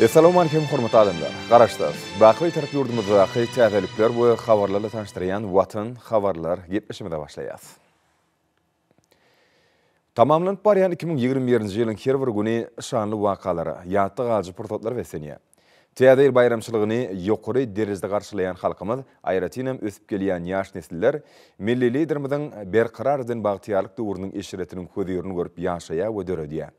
Essalawmalikim hormatly adamlar! Garaşsyz, baky Bitarap ýurdumyzdaky täzelikler we habarlarla tanyşdyrýan Watan habarlar gepleşigimize başlaýas. Tamamlanyp barýan iki müň ýigrimi birinji ýylyň her bir güni şanly wakalara, ýatda galyjy pursatlara beslenýär. Täze ýyl baýramçylygyny ýokary derejede garşylaýan halkymyz, aýratynam ösüp gelýän ýaş nesiller Milli Liderimiziň Berkarar eden bagtyýarlyk döwrüniň eşretiniň hözirini görüp ýaşaýar we döredýär.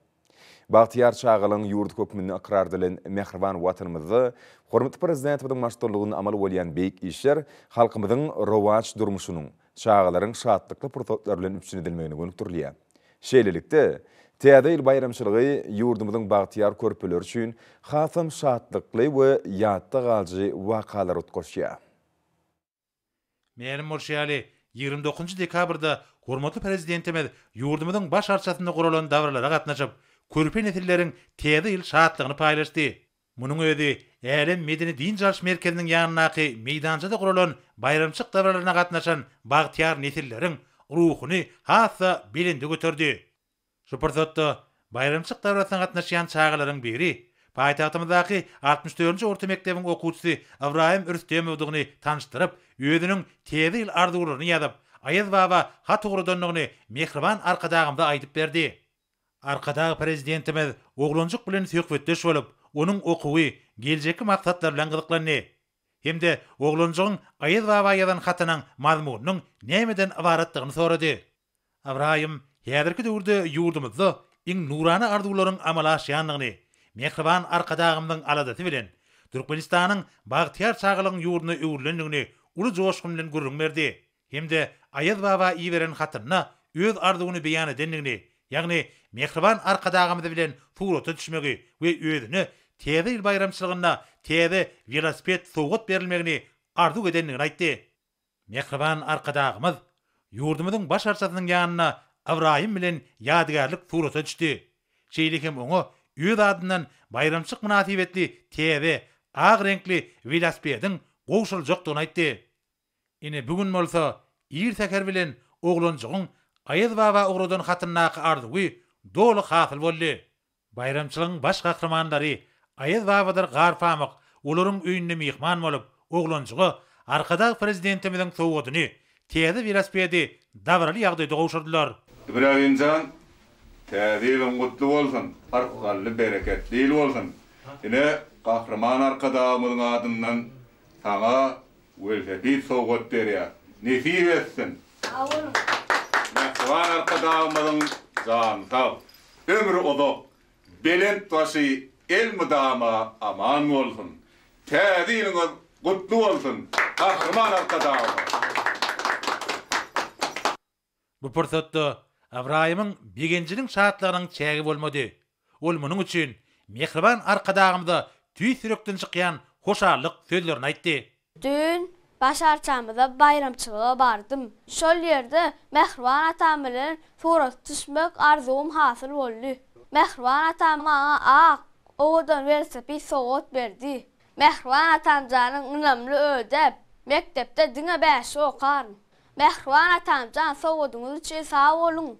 Bagtyýar çagalygyň ýurdy hökmünde ykrar edilen mähriban Watanymyzda hormatly Prezidentimiziň baştutanlygynda amal bolýan beýik işler halkymyzyň rowaç durmuşynyň, çagalaryň şatlykly pursatlar bilen üpjün edilmegine gönükdirilýär. Şeýlelikde, Täze ýyl baýramçylygy ýurdumyzyň bagtyýar körpeleri üçin hasam şatlykly we ýatda galyjy wakalara utgaşýar. Mälim bolşy ýaly, ýigrimi dokuzynjy dekabrda hormatly Prezidentimiz ýurdumyzyň Baş arçasynda guralan dabaralara gatnaşyp, körpe nesilleriň Täze ýyl şatlygyny paýlaşdy. Munuň özi Älem medeni-dynç alyş merkeziniň ýanyndaky meýdançada guralan baýramçylyk dabaralaryna gatnaşan bagtyýar nesilleriň ruhuny has-da belende göterdi. Şu pursatda baýramçylyk dabarasyna gatnaşýan çagalaryň biri paýtagtymyzdaky altmyş dördünji orta mekdebiň okuwçysy Ybraýym Rüstemowdygyny tanyşdyryp, özüniň Täze ýyl arzuwlaryny ýazyp, Aýaz baba hat ugradandygyny mähriban Arkadagymyza aýdyp berdi. Arkadag Prezidentimiz oglanjyk bilen söhbetdeş bolup, onuň okuwy, geljekki maksatlary bilen gyzyklandy hem-de oglanjygyň Aýaz baba ýazan hatynyň mazmunynyň nämeden ybaratdygyny sorady. Ybraýym häzirki döwürde ýurdumyzda iň nurana arzuwlaryň amala aşýandygyny, mähriban Arkadagymyzyň aladasy bilen Türkmenistanyň bagtyýar çagalygyň ýurduna öwrülendigini uly joşgun bilen gürrüň berdi hem-de Aýaz baba iberen hatynda öz arzuwyny beýan edendigini, ýagny mähriban Arkadagymyz bilen surata düşmegi we özüne Täze ýyl baýramçylygynda täze welosiped sowgat berilmegini arzuw edendigini aýtdy. Mähriban Arkadagymyz ýurdumyzyň Baş arçasynyň ýanyna Ybraýym bilen ýadygärlik surata düşdi. Şeýle hem oňa öz adyndan baýramçylyk mynasybetli täze, ak reňkli welosipediň gowşuryljakdygyny aýtdy. Ine bu gün bolsa ir säher bilen oglanjygyň Aýazbaba ugradan hatyndaky arzuwy doly hasyl boldy. Baýramçylygyň baş gahrymanlary Aýaz babadyr Garpamyk olaryň öýünde myhman bolup, oglanjyga Arkadag Prezidentimiziň sowgadyny, täze welosipedi dabaraly ýagdaýda gowşurdylar. Ibragimjan täze ýylyň gutly bolsun, arkanly bereketli ýyl bolsun. Ine Gahryman Arkadagymyzyň adyndan saňa welosiped sowgat berýär. Nesip etsin! Sag boluň! Mähriban Arkadagymyzyň jany sag, Ömri uzak, belent başy elmydama aman bolsun! Täze ýylyňyz gutly bolsun, Gahryman Arkadagymyz! Bu pursatda Ybraýymyň begenjiniň şatlygynyň çägi bolmady. Ol munuň üçin Mähriban Arkadagymyza tüýs ýürekden çykýan hoşallyk sözlerini aýtdy. Düýn baş arçamyza baýramçylyga bardym. Şol ýerde mähriban atam bilen surata düşmek arzuwym hasyl boldy. Mähriban atam maňa ak, owadan welosiped sowgat berdi. Mähriban atamjanyň ynamly ödäp, mekdepde diňe bäşi okaryn. Mähriban atamjan sowgadyňyz üçin sag boluň!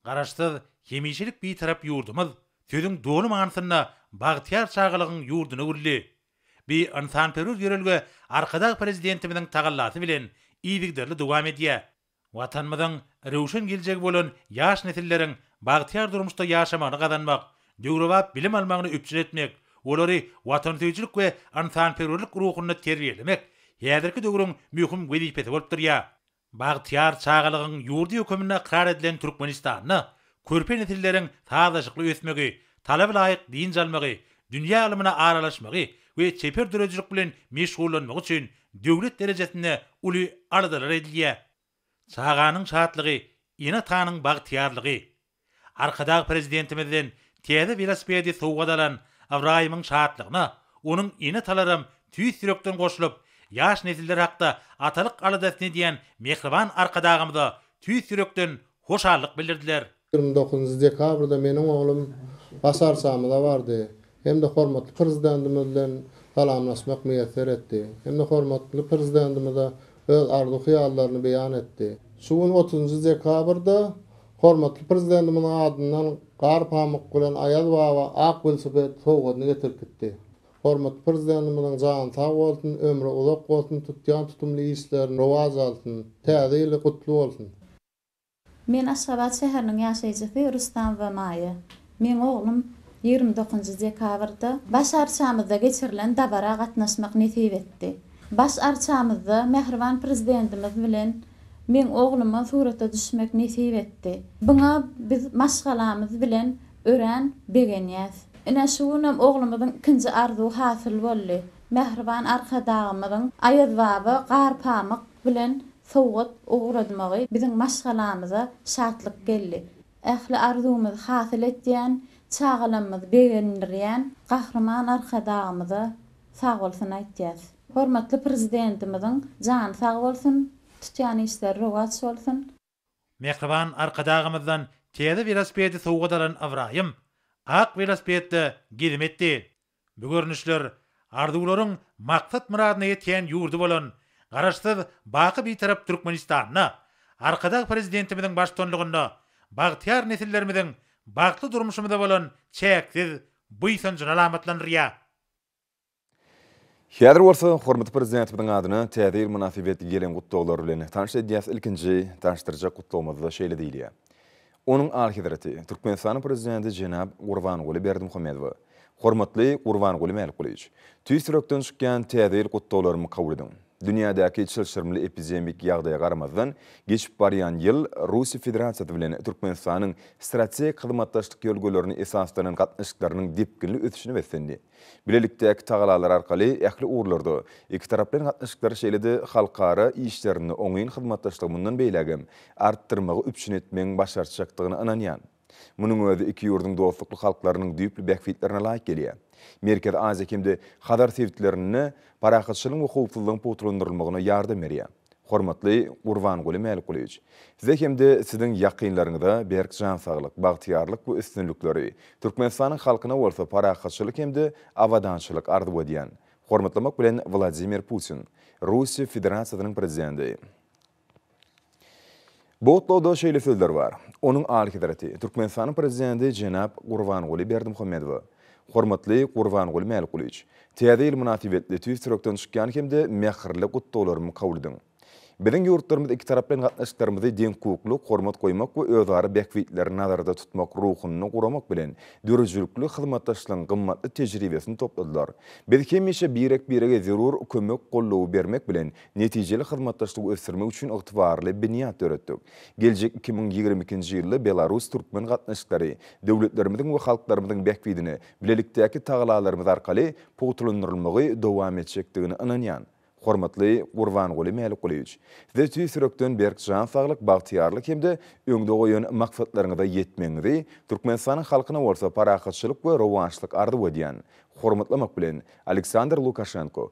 Garaşsyz, hemişelik Bitarap ýurdumyz sözüň doly manysynda bagtyýar çagalygyň ýurduna öwrüldi. Bi ynsanperwer ýörelge Arkadag Prezidentimiziň tagallasy bilen yzygiderli dowam edýär. Watanymyzyň röwşen geljegi bolan ýaş nesilleriň bagtyýar durmuşda ýaşamagyny gazanmak, döwrebap bilim almagyny üpjün etmek, olary watansöýüjilik we ynsanperwerlik ruhunda terbiýelemek häzirki döwrüň möhüm wezipesi bolup durýar. Bagtyýar çagalygyň ýurdy höküminde ykrar edilen Türkmenistanda körpe nesilleriň sazlaşykly ösmegi, talaba laýyk dynç almagy, dünýä ylmyna aralaşmagy we çeper döredijilik bilen meşgullanmagy üçin döwlet derejesinde uly aladalar edilýär. Çaganyň şatlygy, ene-atanyň bagtyýarlygy. Arkadag Prezidentimizden täze welosipedi sowgat alan Ybraýymyň şatlygyna onuň ene-atalaram tüýs ýürekden goşulyp, ýaş nesiller hakda atalyk aladasyny edýän mähriban Arkadagymyza tüýs ýürekden hoşallyk bildirdiler. Ýigrimi dokuzynjy dekabrda meniň oglum Başarçamyza bardy. hem-de hormatly Prezidentimiz bilen salamlaşmak miýesser etdi hem-de hormatly Prezidentimize öz arzuw-hyýallaryny beýan etdi. Şu gün otuzynjy dekabrda hormatly Prezidentimiziň adyndan Gar pamyk bilen Aýaz baba ak welosiped sowgadyny getirip gitdi. Hormatly Prezidentimiziň jany sag bolsun, ömri uzak bolsun, tutýan tutumly işlerini rowaç alsyn, Täze ýyly gutly bolsun! Men Aşgabat şäheriniň ýaşaýjysy Rustam Wemaýe. Meň oglum ýigrimi dokuzynjy dekabrda Baş arçamyzda geçirilen dabara gatnaşmak nesip etdi. Baş arçamyzda mähriban Prezidentimiz bilen meň ogluma surata düşmek nesip etdi. Buňa biz maşgalamyz bilen örän begenýäs. Ine, şu günem oglumyzyň ikinji arzuwy hasyl boldy. Mähriban Arkadagymyzyň Aýazbaba Garpamyk bilen sowgat ugradmagy biziň maşgalamyza şatlyk geldi. Ähli arzuwymyzy hasyl etýän, çagalamyzy begendirýän Gahryman Arkadagymyza sagbolsun aýtýas. Hormatly Prezidentimiziň jany sag bolsun, tutýan işleri rowaç bolsun! Mähriban Arkadagymyzdan täze welosipedi sowgat alan Ybraýym, ak welosipedde gezim etdi. Bu görnüşler arzuwlaryň maksat-myradyna ýetýän ýurdy bolan Garaşsyz, baky Bitarap Türkmenistanda, Arkadag Prezidentimiziň baştutanlygynda bagtyýar nesillerimiziň bagtly durmuşymyza bolan çäksiz buýsanjyny alamatlandyrýar. Häzir bolsa hormatly Prezidentimiziň adyna Täze ýyl mynasybetli gelen gutlaglar bilen tanyş edýäs. Ilkinji tanyşdyrjak gutlagymyzda şeýle diýilýär, Onuň Alyhezreti, Türkmenistanyň Prezidenti jenap Gurbanguly Berdimuhamedowa, Hormatly Gurbanguly Mälikgulyýewiç, tüýs ýürekden çykýan Täze ýyl gutlaglarymy kabul ediň. Dünýädäki çylşyrymly epidemik ýagdaýa garamazdan, geçip barýan ýyl Russiýa Federasiýasy bilen Türkmenistanyň strategik hyzmatdaşlyk ýörelgelerine esaslanan gatnaşyklarynyň depginli ösüşine beslendi. Bilelikdäki tagalalar arkaly ähli ugurlarda ikitaraplaýyn gatnaşyklary şeýle-de halkara işlerinde oňyn hyzmatdaşlygy mundan beýläk hem artdyrmagy üpjün etmegiň başartjakdygyna ynanýan. Munuň özi iki ýurduň dostlukly halklarynyň düýpli bähbitlerine laýyk gelýär. Merkezi Aziýa hem-de Hazar sebitlerinde parahatçylygyň we howpsuzlygyň pugtalandyrylmagyna ýardam berýär. Hormatly Gurbanguly Mälikgulyýewiç! Size hem-de Siziň ýakynlaryňyza berk jan saglyk, bagtyýarlyk we üstünlikleri, Türkmenistanyň halkyna bolsa parahatçylyk hem-de abadançylyk arzuw edýän. Hormatlamak bilen Wladimir Putin, Russiýa Federasiýasynyň Prezidenti. Bu gutlagda şeýle sözler bar, Onuň Alyhezreti, Türkmenistanyň Prezidenti jenap Gurbanguly Berdimuhamedowa. Hormatly Gurbanguly Mälikgulyç, Täze ýyl mynasybetli tüýs ýürekden çykýan hem-de mähirli gutlaglarymy kabul ediň. Biziň ýurtlarymyz iki tarap bilen gatnaşyklarymyzy deňhukuklylyk, hormat goýmak we özara bähbitleri nazarda tutmak ruhunda guramak bilen, döredijilikli hyzmatdaşlygyň gymmatly tejribesini topladylar. Biz hemişe birek-birege zerur kömek-gollawy bermek bilen, netijeli hyzmatdaşlygy ösdürmek üçin ygtybarly binýat döretdik. Geljek iki müň ýigrimi ikinji ýylda belarus-türkmen gatnaşyklary döwletlerimiziň we halklarymyzyň bähbidine bilelikdäki tagalalarymyz arkaly pugtalandyrylmagy dowam etjekdigine ynanýan. Hormatly Gurbanguly Mälikgulyýewiç, Size tüýs ýürekden berk jan saglyk, bagtyýarlyk hem-de öňde goýan maksatlaryňyza ýetmegiňizi, Türkmenistanyň halkyna bolsa parahatçylyk we rowaçlyk arzuw edýän. Hormatlamak bilen, Aleksandr Lukaşenko,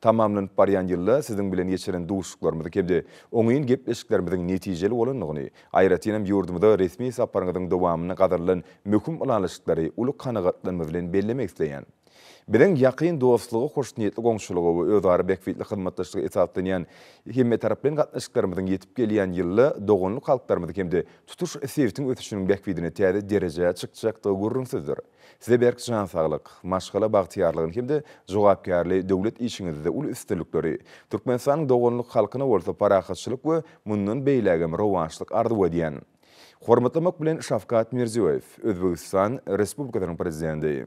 Tamamlanyp barýan ýylda siziň bilen geçiren duşuşyklarymyzyň hem-de oňyn gepleşiklerimiziň netijeli bolandygyny, aýratyn hem ýurdumyza resmi saparyňyzyň dowamynda gazanylan möhüm ylalaşyklary uly kanagatlanma bilen bellemek isleýän. Biziň ýakyn dostluga, hoşniýetli goňşulyga we özara bähbitli hyzmatdaşlyga esaslanýan hemmetaraplaýyn gatnaşyklarymyzyň ýetip gelýän ýylda doganlyk halklarymyzyň hem-de tutuş sebitiň ösüşiniň bähbidine täze derejä çykjakdygy gürrüňsizdir. Size berk jan saglyk, maşgala bagtyýarlygyny hem-de jogapkärli döwlet işiňizde uly üstünlikleri, Türkmenistanyň doganlyk halkyna bolsa parahatçylyk we mundan beýlägem rowaçlyk arzuw edýän. Hormatlamak bilen Şawkat Mirziýoýew, Özbegistan Respublikasynyň Prezidenti.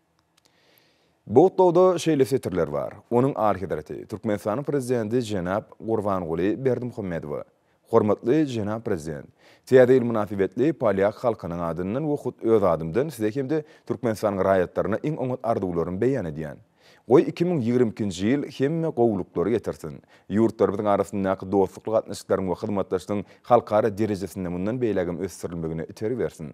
Bu gutlagda şeýle setirler bar, Onuň Alyhezreti, Türkmenistanyň Prezidenti jenap Gurbanguly Berdimuhamedowa, Hormatly jenap Prezident! Täze ýyl mynasybetli polýak halkynyň adyndan we hut öz adymdan Size hem-de Türkmenistanyň raýatlaryna iň oňat arzuwlarymy beýan edýän. Goý, iki müň ýigrimi ikinji ýyl hemme gowulyklary getirsin, ýurtlarymyzyň arasyndaky dostlukly gatnaşyklaryň we hyzmatdaşlygyň halkara derejesinde mundan beýlägem ösdürilmegine itergi bersin.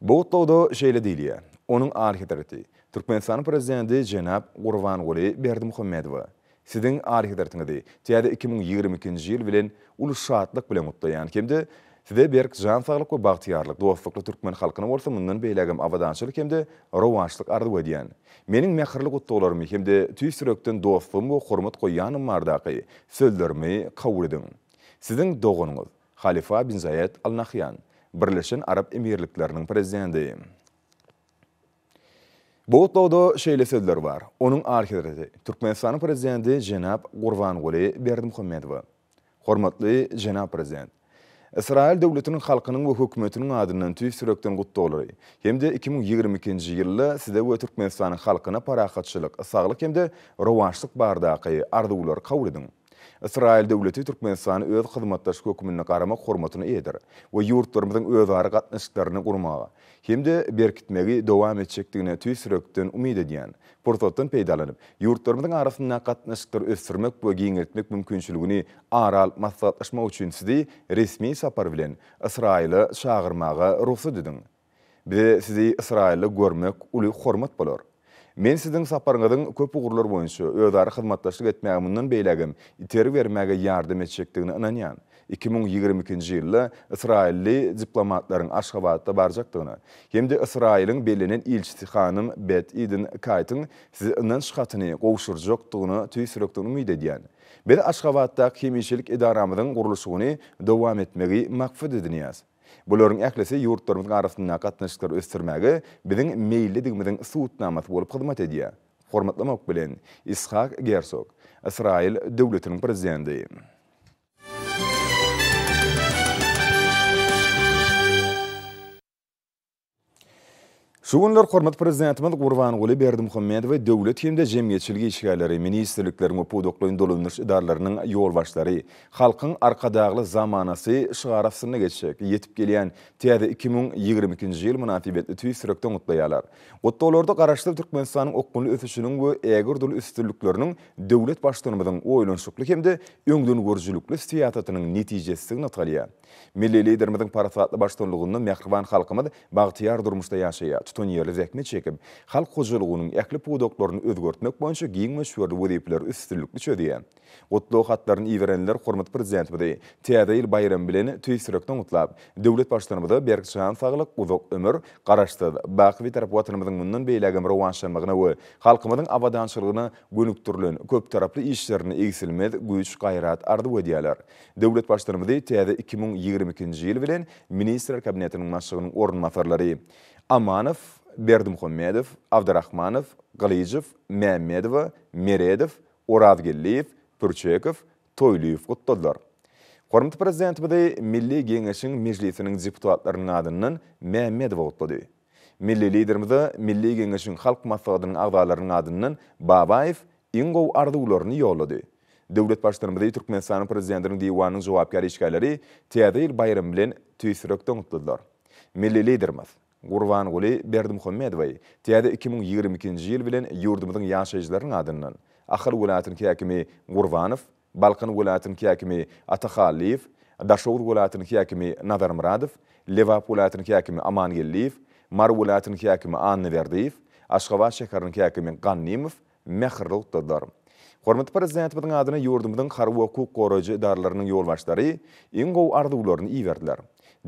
Bu gutlagda şeýle diýilýär, Onuň Alyhezreti, Türkmenistanyň Prezidenti jenap Gurbanguly Berdimuhamedowa, Siziň Alyhezretiňizi täze iki müň ýigrimi ikinji ýyl bilen uly şatlyk bilen gutlaýan hem-de Size berk jan saglyk we bagtyýarlyk, dostlukly türkmen halkyna bolsa mundan beýlägem abadançylyk hem-de rowaçlyk arzuw edýän. Meniň mähirli gutlaglarymy hem-de tüýs ýürekden dostlugym we hormat goýýanlygym bardaky sözlerimi kabul ediň. Siziň doganyňyz. Halifa bin Zaýed Al Nahýan, Birleşen Arap Emirlikleriniň prezidenti. Bu gutlagda şeýle sözler bar, Onuň Alyhezreti, Türkmenistanyň Prezidenti jenap Gurbanguly Berdimuhamedowa. Hormatly jenap Prezident! Ysraýyl döwletiniň halkynyň we hökümetiniň adyndan tüýs ýürekden gutlaglary hem-de iki müň ýigrimi ikinji ýylda Size we Türkmenistanyň halkyna parahatçylyk, saglyk hem-de rowaçlyk baradaky arzuwlary kabul ediň. Ysraýyl döwleti Türkmenistany öz hyzmatdaşy hökmünde garamak hormatyna eýedir we ýurtlarymyzyň özara gatnaşyklaryny gurmagy hem-de berkitmegi dowam etjekdigine tüýs ýürekden umyt edýän. Pursatdan peýdalanyp, ýurtlarymyzyň arasyndaky gatnaşyklary ösdürmek we giňeltmek mümkinçiligini ara alyp maslahatlaşmak üçin Sizi resmi sapar bilen Ysraýyla çagyrmaga rugsat ediň. Bize sizi Ysraýylda görmek uly hormat bolar. Men siziň saparyňyzyň köp ugurlar boýunça özara hyzmatdaşlyk etmäge mundan beýlägem itergi bermäge ýardam etjekdigine ynanýan. Iki müň ýigrimi ikinji ýylda ysraýylly diplomatlaryň Aşgabatda barjakdygyna hem-de Ysraýylyň bellenen ilçisi hanym Bet Eden Kaýtyň size ynanç hatyny gowşurjakdygyna tüýs ýürekden umyt edýän. Biz Aşgabatdaky hemişelik edaramyzyň gurluşygyny dowam etmegi maksat edinýäs. Bularyň ählisi ýurtlarymyzyň arasyndaky gatnaşyklary ösdürmäge biziň meýillidigimiziň subutnamasy bolup hyzmat edýär. Hormatlamak bilen, Ishak Gersog, Ysraýyl Döwletiniň Prezidenti. Şu günler hormatly Prezidentimiz Gurbanguly Berdimuhamedowy döwlet hem-de jemgyýetçilik işgärleri, ministrlikleriň we pudaklaýyn dolandyryş edaralarynyň ýolbaşçylary Halkyň Arkadagly zamanasy şygary astynda geçjek ýetip gelýän täze iki müň ýigrimi ikinji ýyl mynasybetli tüýs ýürekden gutlaýarlar. Gutlaglarda Garaşsyz Türkmenistanyň okgunly ösüşiniň we ägirt uly üstünlikleriniň döwlet Baştutanymyzyň oýlanyşykly hem-de öňdengörüjilikli syýasatynyň netijesizigi nygtalýar. Milli Liderimiziň parasatly baştullugynda mähriban halkymyz bagtyýar durmuşda ýaşaýar, tutanýerli zähmet çekip, halk hojalygynyň ähli pudaklaryny özgertmek boýunça giň möçberli wezipeleri üstünlikli çözýär. Gutlag hatlaryny iberenler hormatly Prezidentimizi Täze ýyl baýramy bilen tüýs ýürekden gutlap, döwlet Baştutanymyza berk jan saglyk, uzak ömür, Garaşsyz, baky Bitarap Watanymyzyň mundan beýlägem rowaçlanmagyna we halkymyzyň abadançylygyna gönükdirilen köptaraply işlerinde egsilmez güýç-gaýrat arzuw edýärler. Döwlet Baştutanymyzy täze iki müň ýigrimi ikinji ýyl bilen Ministrler Kabinetiniň Başlygynyň orunbasarlary Amanow, Berdimuhamedow, Abdrahmanow, Gylyjow, Mämmedowa, Meredow, Orazgeldiýew, Pürçekow, Toýlyýew gutladylar. Hormatly Prezidentimizi Milli Geňeşiň Mejlisiniň deputatlarynyň adyndan Mämmedowa gutlady. Milli Liderimize Milli Geňeşiň Halk Maslahatynyň agzalarynyň adyndan Babaýew iň gowy arzuwlaryny ýollady. Döwlet Baştutanymyzy Türkmenistanyň Prezidentiniň Diwanynyň jogapkär işgärleri Täze ýyl baýramy bilen tüýs ýürekden gutladylar. Milli Liderimiz Gurbanguly Berdimuhamedowy täze iki müň ýigrimi ikinji ýyl bilen ýurdumyzyň ýaşaýjylarynyň adyndan Ahal welaýatynyň häkimi Gurbanow Balkan welaýatynyň häkimi Ata Hallyýew, Daşoguz welaýatynyň häkimi Nazar Myradow, Lebap welaýatynyň häkimi Amangeldiýew, Mary welaýatynyň häkimi Annaberdiýew, Aşgabat şäheriniň häkimi Gannymow mähirli gutladylar. Hormatly Prezidentimiziň adyna ýurdumyzyň harby-hukuk goraýjy edaralarynyň ýolbaşçylary iň gowy arzuwlaryny iberdiler.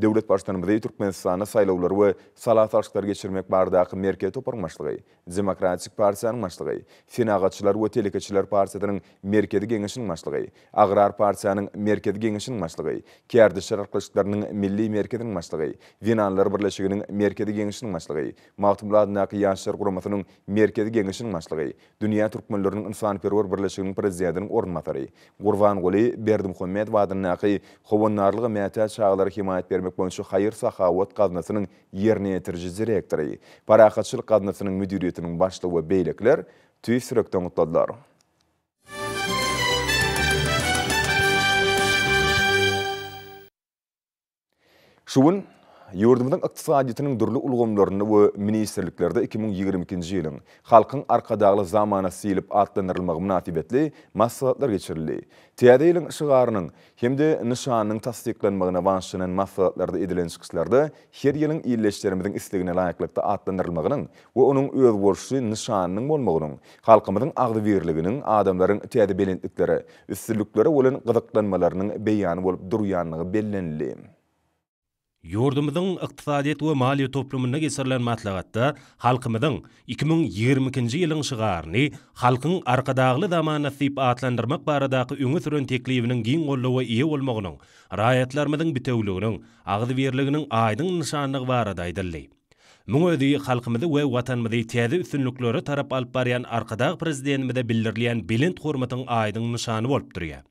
Döwlet Baştutanymyzy Türkmenistanda saýlawlary we sala salşyklary geçirmek baradaky merkezi toparyň başlygy Demokratik partiýanyň başlygy, Senagatçylar we telekeçiler partiýasynyň Merkezi Geňeşiniň başlygy, Agrar partiýanyň Merkezi Geňeşiniň başlygy, Kärdeşler arkalaşyklarynyň Milli merkeziniň başlygy, Zenanlar birleşiginiň Merkezi Geňeşiniň başlygy, Magtymguly adyndaky Ýaşlar guramasynyň Merkezi Geňeşiniň başlygy, Dünýä türkmenleriniň ynsanperwer birleşiginiň prezidentiniň orunbasary, Gurbanguly Berdimuhamedow adyndaky Howandarlyga mätäç çagalara hemaýat bermek boýunça haýyr-sahawat gaznasynyň ýerine ýetiriji direktory, Parahatçylyk gaznasynyň müdiriýetiniň başlygy we beýlekiler tüýs ýürekden gutladylar. Şu gün ýurdumyzyň ykdysadyýetiniň dürli ulgamlarynda we ministrliklerde iki müň ýigrimi ikinji ýylyň Halkyň Arkadagly zamanasy diýlip atlandyrylmagy mynasybetli maslahatlar geçirildi. Täze ýylyň şygarynyň hem-de nyşanynyň tassyklanmagyna bagyşlanan maslahatlarda edilen çykyşlarda her ýylyň ildeşlerimiziň islegine laýyklykda atlandyrylmagynyň we onuň özboluşly nyşanynyň bolmagynyň halkymyzyň agzybirliginiň, adamlaryň täze belentliklere, üstünliklere bolan gyzyklanmalarynyň beýany bolup durýandygy bellenildi. Ýurdumyzyň ykdysadyýet we maliýe toplumynda geçirilen maslahatda halkymyzyň iki müň ýigrimi ikinji ýylyň şygaryny Halkyň Arkadagly zamanasy diýip atlandyrmak baradaky öňe süren teklibiniň giň goldawa eýe bolmagynyň raýatlarymyzyň bitewüliginiň, agzybirliginiň aýdyň nyşanlygy barada aýdyldy. Muň özi halkymyzy we Watanymyzy täze üstünliklere tarap alyp barýan Arkadag Prezidentimize bildirilýän belent hormatyň aýdyň nyşany bolup durýar.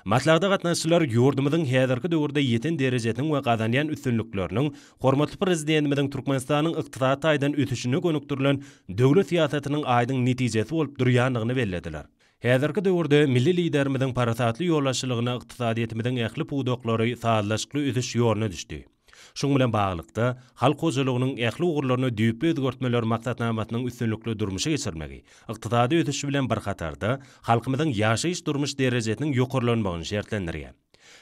Maslahata gatnaşyjylar ýurdumyzyň häzirki döwürde ýeten derejesiniň we gazanýan üstünlikleriniň hormatly Prezidentimiziň Türkmenistanyň ykdysady taýdan ösüşine gönükdirilen döwlet syýasatynyň aýdyň netijesi bolup durýandygyny bellediler. Häzirki döwürde milli Liderimiziň parasatly ýolbaşçylygynda ykdysadyýetimiziň ähli pudaklary sazlaşykly ösüş ýoluna düşdi. Şunuň bilen baglylykda, halk hojalygynyň ähli ugurlaryny düýpli özgertmeler maksatnamasynyň üstünlikli durmuşa geçirmegi, ykdysady ösüş bilen bir hatarda, halkymyzyň ýaşaýyş-durmuş derejesiniň ýokarlanmagyny şertlendirýär.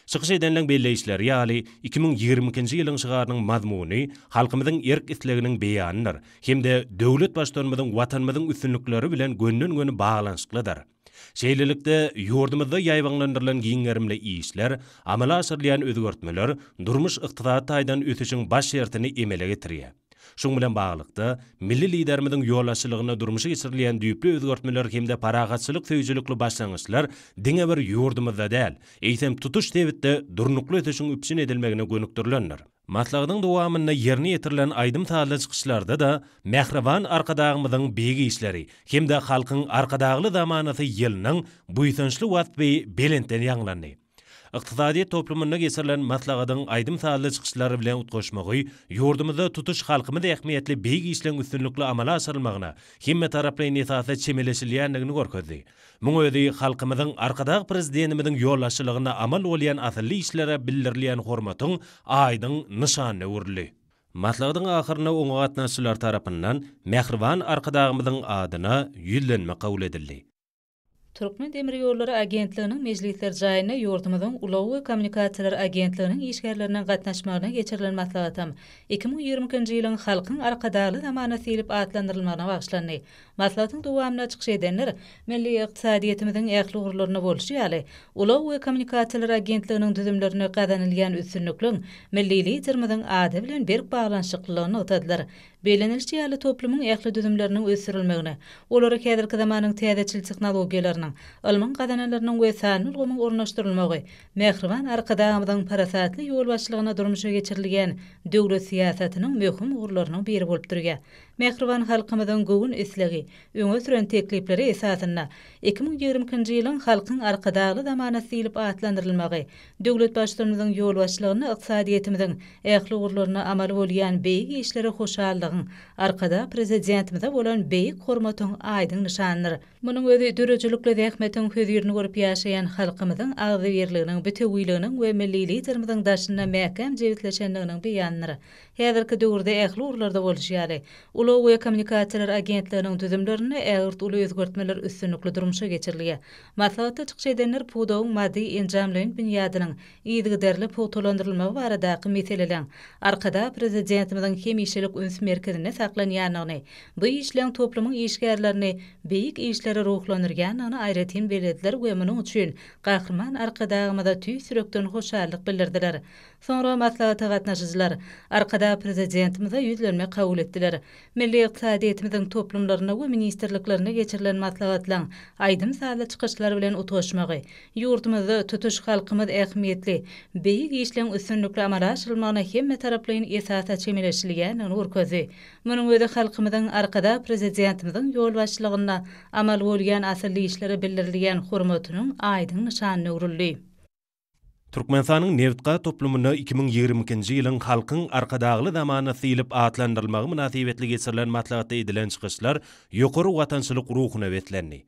Çykyş edenleň belleýişleri ýaly, iki müň ýigrimi ikinji ýylyň şygarynyň mazmuny halkymyzyň erk-isleginiň beýanydyr hem-de döwlet Baştutanymyzyň Watanymyzyň üstünlikleri bilen gönden-göni baglanyşyklydyr. Şeýlelikde, ýurdumyzda ýaýbaňlandyrylan giň gerimli işler, amala aşyrylýan özgertmeler durmuş-ykdysady taýdan ösüşiň baş şertini emele getirýär. Şuň bilen baglylykda, milli Liderimiziň ýolbaşçylygynda durmuşa geçirilýän düýpli özgertmeler hem-de parahatçylyk söýüjilikli başlangyçlar diňe bir ýurdumyzda däl, eýsem, tutuş sebitde durnukly ösüşiň üpjün edilmegine gönükdirilendir. Maslahatyň dowamynda ýerine ýetirilen aýdym-sazly çykyşlarda-da Mähriban Arkadagymyzyň beýik işleri hem-de halkyň Arkadagly zamanasy ýylynyň buýsançly waspy belentden ýaňlandy. Ykdysadyýet toplumynda geçirilen maslahatyň aýdym-sazly çykyşlar bilen utgaşmagy ýurdumyzda tutuş halkymyz ähmiýetli beýik işleň üstünlikli amala aşyrylmagyna hemmetaraplaýyn esasda çemeleşilýändigini görkezdi. Muň özi halkymyzyň Arkadag Prezidentimiziň ýolbaşçylygynda amal bolýan asylly işlere bildirilýän hormatyň aýdyň nyşanyna öwrüldi. Maslahatyň ahyrynda oňa gatnaşyjylar tarapyndan mähriban Arkadagymyzyň adyna ýüzlenme kabul edildi. Türkmendemirýollary agentliginiň mejlisler jaýynda ýurdumyzyň Ulag we kommunikasiýalar agentliginiň işgärleriniň gatnaşmagynda geçirilen maslahatam iki müň ýigrimi ikinji ýylyň Halkyň Arkadagly zamanasy diýlip atlandyrylmagyna bagyşlandy. Maslahatyň dowamynda çykyş edenler milli ykdysadyýetimiziň ähli ugurlarynda bolşy ýaly, Ulag we kommunikasiýalar agentliginiň düzümlerinde gazanylýan üstünlikliň milli Liderimiziň ady bilen berk baglanyşyklylygyny nygtadylar. Bellenilişi ýaly, toplumyň ähli düzümleriniň ösdürilmegine, olary häzirki zamanyň täzeçil tehnologiýalarynyň, ylmyň gazananlarynyň we sanly ulgamyň ornaşdyrylmagy Mähriban Arkadagymyzyň parasatly ýolbaşçylygynda durmuşa geçirilýän döwlet syýasatynyň möhüm ugurlarynyň biri bolup durýar. Mähriban halkymyzyň göwün islegi, öňe süren teklipleri esasynda iki müň ýigrimi ikinji ýylyň Halkyň Arkadagly zamanasy diýlip atlandyrylmagy, döwlet Baştutanymyzyň ýolbaşçylygynda ykdysadyýetimiziň ähli ugurlarynda amaly bolýan beýik işlere hoşallygyň, Arkadag Prezidentimize bolan beýik hormatyň aýdyň nyşanydyr. Munuň özi döredijilikli zähmetiň hözirini görüp ýaşaýan halkymyzyň agzybirliginiň, bitewüliginiň we milli Liderimiziň daşynda mäkäm jebisleşendiginiň beýanydyr. Häzirki döwürde ähli ugurlarda bolşy ýaly, ulag we kommunikasiýalar agentliginiň düzümlerinde ägirt uly özgertmeler üstünlikli durmuşa geçirilýär. Maslahatda çykyş edenler pudagyň maddy-enjamlaýyn binýadynyň yzygiderli pugtalandyrylmagy baradaky meseleleň Arkadag Prezidentimiziň hemişelik üns merkezinde saklanýandygyny, bu işleň toplumyň işgärlerini beýik işlere ruhlandyrýandygyny aýratyn bellediler we munuň üçin Gahryman Arkadagymyza tüýs ýürekden hoşallyk bildirdiler. Soňra maslahata gatnaşyjylar Arkadag Prezidentimize ýüzlenme kabul etdiler. Milli ykdysadyýetimiziň toplumlarynda we ministrliklerinde geçirilen maslahatlaryň aýdym-sazly çykyşlar bilen utgaşmagy, ýurdumyzda tutuş halkymyz ähmiýetli, beýik işleň üstünlikli amala aşyrylmagyna hemmetaraplaýyn esasda çemeleşilýändigini görkezdi. Munuň özi halkymyzyň Arkadag Prezidentimiziň ýolbaşçylygynda amal bolýan asylly işlere bildirilýän hormatynyň aýdyň nyşanyna öwrüldi. Türkmenistanyň nebit-gaz toplumyna iki müň ýigrimi ikinji ýylyň Halkyň Arkadagly zamanasy diýlip atlandyrylmagy mynasybetli geçirilen maslahatda edilen çykyşlar ýokary watançylyk ruhuna beslendi.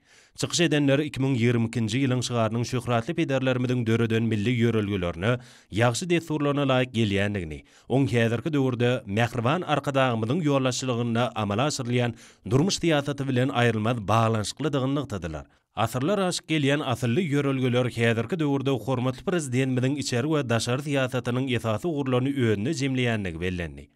Çykyş edenler iki müň ýigrimi ikinji ýylyň şygarynyň şöhratly pederlerimiziň döreden milli ýörelgelerine, ýagşy dessurlaryna laýyk gelýändigini, oň häzirki döwürde mähriban Arkadagymyzyň ýolbaşçylygynda amala aşyrylýan durmuş syýasaty bilen aýrylmaz baglanyşyklydygyny nygtadylar. Asyrlar aşyp gelýän asylly ýörelgeler häzirki döwürde hormatly Prezidentimiziň içeri we daşary syýasatynyň esasy ugurlaryny özünde jemleýändigi bellendi.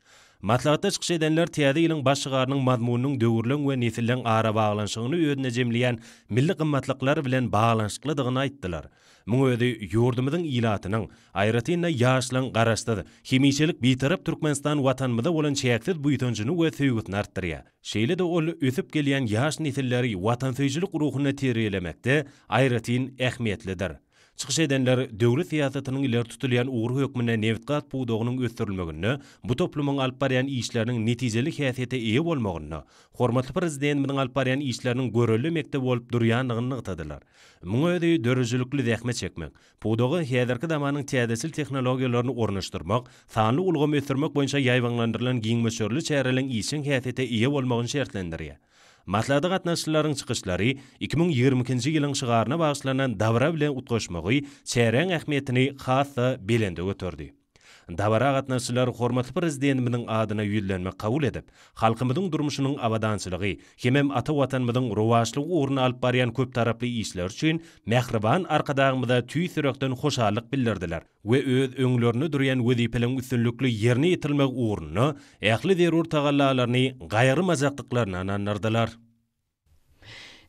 Maslahatda çykyş edenler Täze ýylyň baş şygarynyň mazmunynyň döwürleň we nesilleň arabaglanyşygyny özünde jemleýän milli gymmatlyklar bilen baglanyşyklydygyny aýtdylar. Muň özi ýurdumyzyň ilatynyň, aýratyn-da, ýaşlaryň Garaşsyz, hemişelik Bitarap Türkmenistan Watanymyza bolan çäksiz buýsanjyny we söýgüsini artdyrýar. Şeýle-de ol ösüp gelýän ýaş nesilleri watansöýüjilik ruhunda terbiýelemekde aýratyn ähmiýetlidir. Çykyş edenler döwlet syýasatynyň ileri tutulýan ugry hökmünde nebitgaz pudagynyň ösdürilmeginde bu toplumyň alyp barýan işleriniň netijeli häsiýete eýe bolmagynda hormatly Prezidentimiziň alyp barýan işleriniň görelde mekdebi bolup durýandygyny nygtadylar. Muňa özi döredijilikli zähmet çekmek, Pudaga häzirki zamanyň täzeçil tehnologiýalaryny ornaşdyrmak, sanly ulgamy ösdürmek boýunça ýaýbaňlandyrylan giň möçberli çäreleriň işjeň häsiýete eýe bolmagyny şertlendirýär. Maslahata gatnaşyjylaryň çykyşlary iki müň ýigrimi ikinji ýylyň şygaryna bagyşlanan dabara bilen utgaşmagy çäräň ähmiýetini has-da belende göterdi. Dabara gatnaşyjylar hormatly Prezidentimiziň adyna ýüzlenme kabul edip, halkymyzyň durmuşynyň abadançylygy hemem ata Watanymyzyň rowaçlygy ugrunda alyp barýan köptaraply işleri üçin mähriban Arkadagymyza tüýs ýürekden hoşallyk bildirdiler we öz öňlerinde durýan wezipeleriň üstünlikli ýerine ýetirilmegi ugrunda ähli zerur tagallalaryny gaýgyrmajakdyklaryny ynandyrdylar.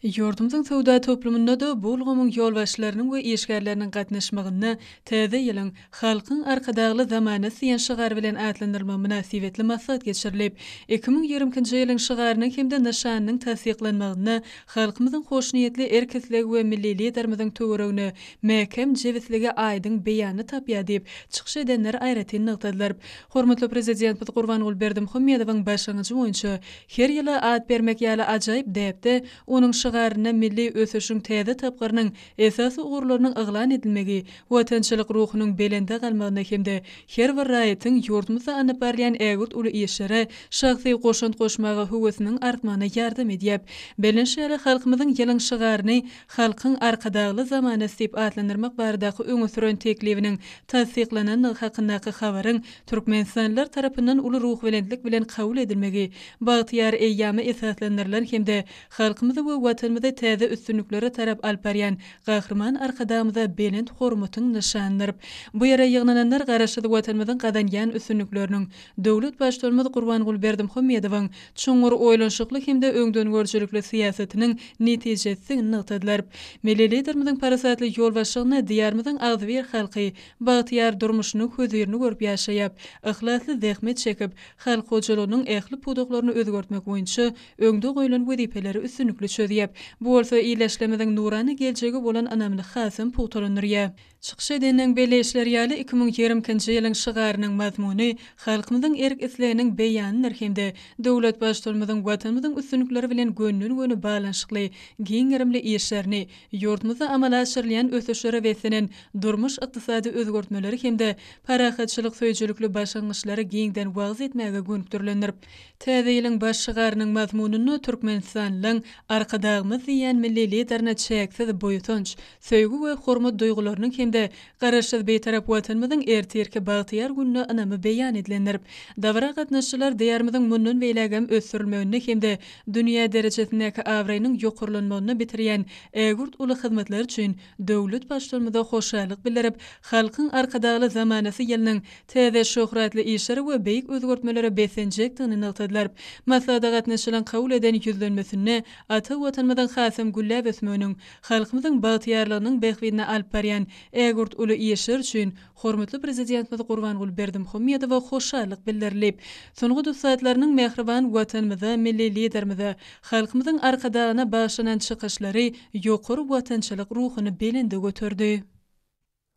Ýurdumyzyň söwda toplumynda-da bu ulgamyň ýolbaşçylarynyň we işgärleriniň gatnaşmagynda Täze ýylyň, Halkyň Arkadagly zamanasy diýen şygar bilen atlandyrylmagy mynasybetli maslahat geçirilip, iki müň ýigrimi ikinji ýylyň şygarynyň hem-de nyşanynyň tassyklanmagynda halkymyzyň hoşniýetli erk-islegi we milli Liderimiziň töweregine mäkäm jebisligi aýdyň beýanyny tapýar diýip, çykyş edenler aýratyn nygtadylar. Hormatly Prezidentimiz Gurbanguly Berdimuhamedowyň başlangyjy boýunça Her ýyla at bermek ýaly ajaýyp däpde onuň şygarynda milli ösüşiň täze tapgyrynyň esasy ugurlarynyň yglan edilmegi watançylyk ruhunyň belende galmagyna hem-de her bir raýatyň ýurdumyzda alnyp barylýan ägirt uly işlere şahsy goşant goşmaga höwesiniň artmagyna ýardam edýär. Bellenşi ýaly, halkymyzyň ýylyň şygaryny Halkyň Arkadagly zamanasy diýip atlandyrmak baradaky öňe süren teklibiniň tassyklanandygy hakyndaky habaryň türkmenistanlylar tarapyndan uly ruhubelentlik bilen kabul edilmegi bagtyýar eýýama esaslandyrylan hem-de halkymyzy we Watanymyzy täze üstünliklere tarap alyp barýan Gahryman Arkadagymyza belent hormatyň nyşanydyr. Bu ýere ýygnananlar Garaşsyz Watanymyzyň gazanýan üstünlikleriniň, döwlet Baştutanymyz Gurbanguly Berdimuhamedowyň çuňňur oýlanyşykly hem-de öňdengörüjilikli syýasatynyň netijesisidigini nygtadylar. Milli Liderimiziň parasatly ýolbaşçylygynda Diýarymyzyň agzybir halky Bagtyýar durmuşynyň hözirini görüp ýaşaýap, yhlasly zähmet çekip, halk hojalygynyň ähli pudaklaryny özgertmek boýunça öňde goýlan wezipeleri üstünlikli çözýär. Bu bolsa ildeşlerimiziň nurana geljege bolan ynamyny hasam pugtalandyrýar. Çykyş edeniň belleýişleri ýaly, iki müň ýigrimi ikinji ýylyň şygarynyň mazmuny halkymyzyň erk-isleginiň beýanydyr hem-de döwlet Baştutanymyzyň Watanymyzyň üstünlikleri bilen gönden-göni baglanyşykly giň gerimli işlerini, Ýurdumyzda amala aşyrylýan ösüşlere beslenen durmuş-ykdysady özgertmeleri hem-de parahatçylyk söýüjilikli başlangyçlary giňden wagyz etmäge gönükdirilendir. Täze ýylyň baş şygarynyň mazmunynda Türkmenistanlyň Arkadagymyz diýýän milli Liderine çäksiz buýsanç, söýgi we hormat duýgularynyň hem-de Garaşsyz Bitarap Watanymyzyň ertirki bagtyýar gününe ynamy beýan edilendir. Dabara gatnaşyjylar Diýarymyzyň mundan beýlägem ösdürilmeginde hem-de Dünýä derejesindäki abraýynyň ýokarlanmagyny bitirýän ägirt uly hyzmatlar üçin döwlet Baştutanymyza hoşallyk bildirip, Halkyň Arkadagly zamanasy ýylynyň täze şöhratly işlere we beýik özgertmelere beslenjekdigini nygtadylar. Maslahata gatnaşyjylaryň kabul eden Ýüzlenmesinde ata Watanymyzyň hasam gülläp ösmeginiň, halkymyzyň bagtyýarlygynyň bähbidine alyp barýan ägirt uly işler üçin Hormatly Prezidentimiz Gurbanguly Berdimuhamedowa hoşallyk bildirilip, sungat ussatlarynyň mähriban Watanymyza, milli Liderimize, halkymyzyň Arkadagyna bagyşlanan çykyşlary ýokary watançylyk ruhuny belende göterdi.